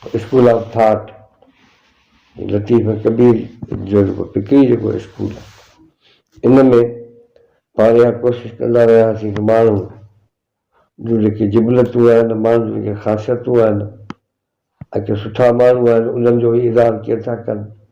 School of thought Latif Kabir جو جيڪو فڪري جيڪو اسڪول آهي ان ۾ پاڻ اها ڪوشش ڪندا رهياسين ته ماڻهو جون جيڪي جبلتون آهن ماڻهن جون جيڪي خاصيتون آهن ۽ ڪي سٺا ماڻهو آهن انهن جو ئي اظهار ڪير ٿا ڪن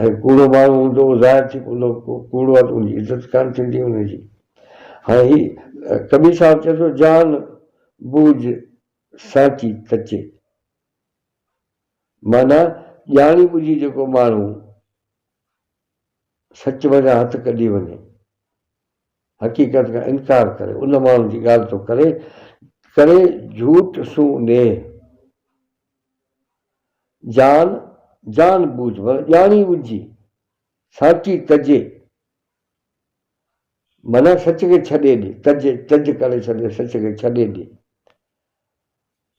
۽ ڪوڙو ماڻهو هوندو اهو ظاهر ٿي پوندو ڪوڙو آهي ته ان جي عزت ڪانه ٿيندي ان جي هاڻي هي ڪبير صاحب چئي ٿو جان بوجھ سانچي تچي معنيٰ ڄاڻي ٻجهي جيڪو ماڻهو سچ منجهان هٿ ڪڍي وڃي حقيقت کان انڪار ڪري ان ماڻهو جي ڳالهه ٿو ڪري ڪري جھوٽ سون نيهه. جان جان ٻوجهه معنيٰ ڄاڻي ٻجهي ساچي تجي معنيٰ سچ کي ڇڏي ڏي تج تج ڪري ڇڏي سچ کي ڇڏي ڏي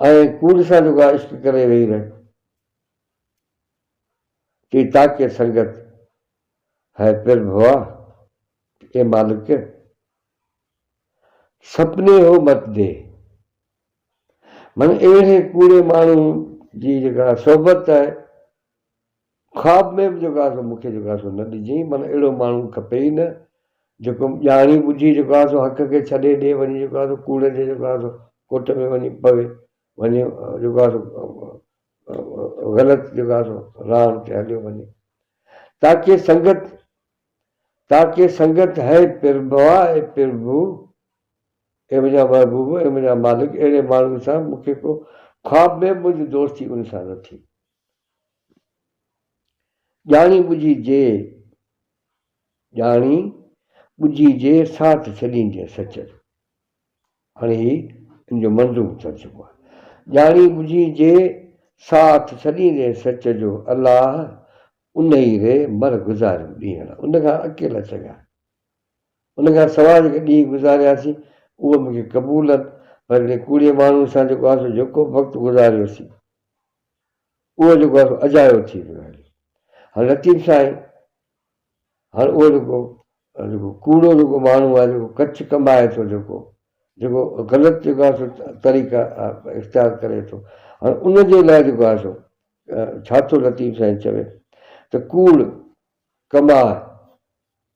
۽ ڪوڙ سان جيڪا عشق ڪري ويهي رهي تي تاڪي سنگت هي پر ڀوا اي مالڪ سپني هو مت دي من اهڙي ڪوڙي ماڻهو جي جيڪا صحبت آهي، خواب ۾ به جيڪو آهي سو مون کي جيڪو آهي سو نه ڏجئي، من اهڙو ماڻهو کپي ئي نه، جيڪو ڄاڻي ٻجهي جيڪو آهي سو حق کي ڇڏي ڏي وڃي جيڪو آهي سو ڪوڙ جي جيڪو آهي سو ڪوٽ ۾ وڃي پوي، وڃي جيڪو آهي سو غلط جيڪو آهي سو راهن تي هليو وڃي. تاڪي سنگت تاڪي سنگت هي پرڀوا اي پرڀو. اي منهنجا محبوب، اي منهنجا مالڪ، اهڙي ماڻهوء سان مون کي ڪو خواب ۾ منهنجي دوستي ان سان نه ٿي. ڄاڻي ٻجهي جي، ڄاڻي ٻجهي جي ساٿ ڇڏيندينء سچل. هاڻي هي ان جو منظوم ٿي چڪو آهي. ڄاڻي ٻجهي جي ساٿ ڇڏيندينء سچ جو الله انهي ري مر گذاريم ڏينهن ان کان اڪيلا چڱا. ان کان سواء جيڪي ڏينهن گذارياسين، اهي مون کي قبول هن، پر انهي ڪوڙي ماڻهوء سان جيڪو آسو جهڪو وقت گذاريوسين، اهو جيڪو آسو اجايو ٿي ويو آهي. هاڻ لطيف سائين، هاڻ اهو جيڪو جيڪو ڪوڙو جيڪو ماڻهو آهي، جيڪو ڪڇ ڪنبائي ٿو، جيڪو جيڪو غلط جيڪو آسو طريقا اختيار ڪري ٿو، هاڻ ان جي لاء جيڪو آسو ڇا ٿو لطيف سائين چوي ته ڪوڙ، ڪنباهه،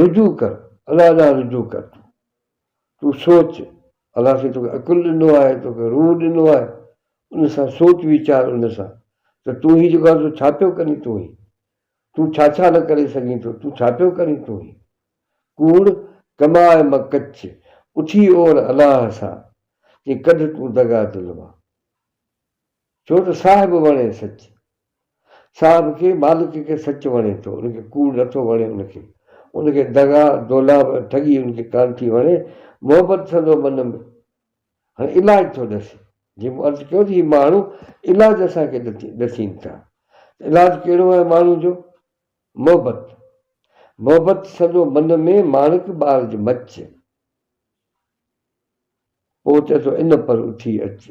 رجوع ڪر الله ڏانهن رجوع ڪر تون تون سوچ الله سائين توکي عقل ڏنو آهي توکي روح ڏنو آهي ان سان سوچ ويچار ان سان ته تون هي جيڪو آهي سو ڇا پيو ڪرين تون هي تون ڇا ڇا نه ڪري سگهين ٿو تون ڇا پيو ڪرين تون هي ڪوڙ ڪماء مان ڪڇ اٺي اور الله سان چي ڪڍ تون دغا دل مان. ڇو ته صاحب وڻي سچ. صاحب کي، مالڪ کي سچ وڻي ٿو، ان کي ڪوڙ نٿو وڻي ان کي. ان کي دغا، دولاب ۽ ٺڳي ان کي ڪانه ٿي وڻي، محبت سندو من ۾. هاڻي علاج ٿو ڏسي. جيئن مون عرض ڪيو ته هي ماڻهو علاج اسان کي ڏسين ٿا. ته علاج ڪهڙو آهي ماڻهو جو؟ محبت. محبت سندو من ۾، ماڻڪ ٻار جي مچ. پوء چئي ٿو ان پر اٿي اچ.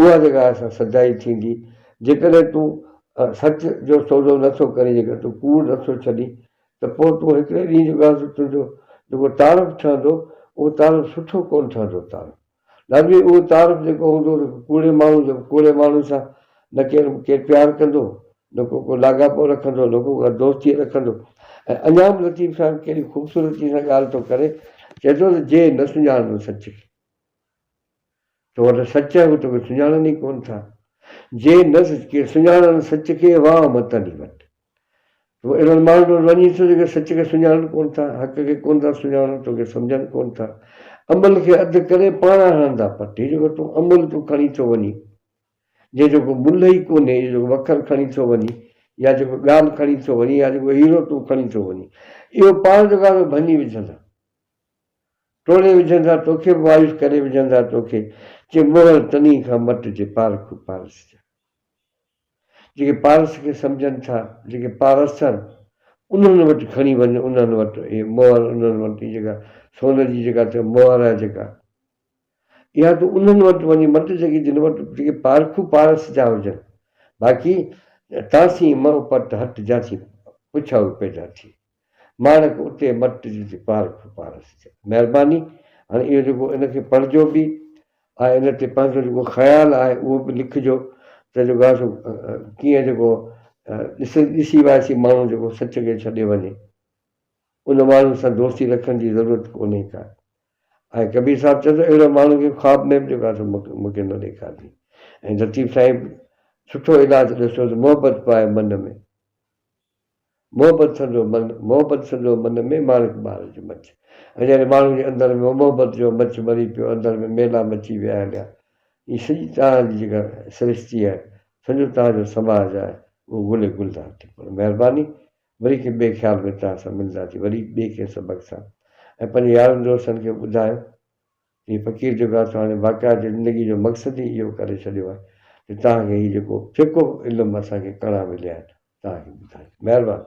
اها جيڪا سا سچائي ٿيندي. جيڪڏهن تون سچ جو سودو نه ٿو ڪرين، جيڪڏهن تون ڪوڙ نه ٿو ڇڏين، ته پوء تون هڪڙي ڏينهن جو ڳالهه ته تنهنجو جيڪو تعارف ٺهندو، اهو تعارف سٺو ڪونه ٺهندو. تعارف لازمي اهو تعارف جيڪو هوندو ته ڪوڙي ماڻهو جو ڪوڙي ماڻهو سان نه ڪير ڪير پيار ڪندو، نه ڪو ڪو لاڳاپو رکندو، نه ڪو ڪا دوستي رکندو. ۽ اڃا به لطيف صاحب ڪهڙي خوبصورتي سان ڳالهه ٿو ڪري، چئي ٿو ته جي نه سڃاڻندو سچ کي. تو وٽ سچ آهي، هو توکي سڃاڻن ئي ڪونه ٿا. جي نه ڪي سڃاڻن سچ کي، واهه متن ئي وٽ. تون اهڙن ماڻهن وٽ وڃين ٿو، جيڪي سچ کي سڃاڻن ڪونه ٿا، حق کي ڪونه ٿا سڃاڻن، توکي سمجهن ڪونه ٿا. امل کي اڌ ڪري پاڻ هڻندا پٽ. هي جيڪو تون امل تون کڻي ٿو وڃين، جنهن جو ڪو ملهه ئي ڪونهي، اهو جيڪو وکر کڻي ٿو وڃين، يا جيڪو ڳام کڻي ٿو وڃين، يا جيڪو هيرو تون کڻي ٿو وڃين، اهو پاڻ جيڪو آهي، سو ڀڃي وجهندا. ٽوڙي وجهندا توکي به وايس ڪري وجهندا توکي چي مهر تني کان مٽ جي پارکو پارس جا جيڪي پارس کي سمجهن ٿا جيڪي پارسن انهن وٽ کڻي وڃ انهن وٽ هي مهر انهن وٽ جيڪا سون جي جيڪا ٿي مهر آهي جيڪا اها تو انهن وٽ وڃي مٽ جيڪي جن وٽ جيڪي پارکو پارس جا هجن باقي تاسين مئو پٽ هٽ جا ٿي پڇاوي پيدا ٿي ماڻڪ اتي مٽ جي ٿي پار کي پار ٿي چئي مهرباني هاڻي اهو جيڪو ان کي پڙهجو به آهي ان تي پنهنجو جيڪو خيال آهي اهو به لکجو ته جيڪو آهي سو ڪيئن جيڪو ڏس ڏسي وائسي ماڻهو جيڪو سچ کي ڇڏي وڃي ان ماڻهو سان دوستي رکڻ جي ضرورت ڪونهي ڪا ۽ ڪبير صاحب چئي ٿو اهڙو ماڻهو کي خواب ۾ به جيڪو آهي سو مونکي نه ڏيکارجي ۽ لطيف سائين سٺو علاج ڏسو ته محبت پائي من ۾ محبت سندو من، محبت سندو من ۾ ماڻڪ بهار جي مچ. ۽ جڏهن ماڻهن جي اندر ۾ محبت جو مچ ٻري پيو، اندر ۾ ميلا مچي ويا آهن يا هي سڄي توهان جي جيڪا سرشتي آهي، سڄو توهان جو سماج آهي، اهو گل ۽ گلزار ٿي پوندو. مهرباني، وري ڪنهن ٻئي خيال ۾ توهان سان ملنداسين، وري ٻئي ڪنهن سبق سان. ۽ پنهنجي يارن دوستن کي به ٻڌايو. هي فقير جيڪو آهي سو هاڻي باقيات جي زندگي جو مقصد ئي اهو ڪري ڇڏيو آهي ته توهان کي هي جيڪو جيڪو به علم اسان کي ڪڻا مليا آهن توهان کي ٻڌايون مهرباني.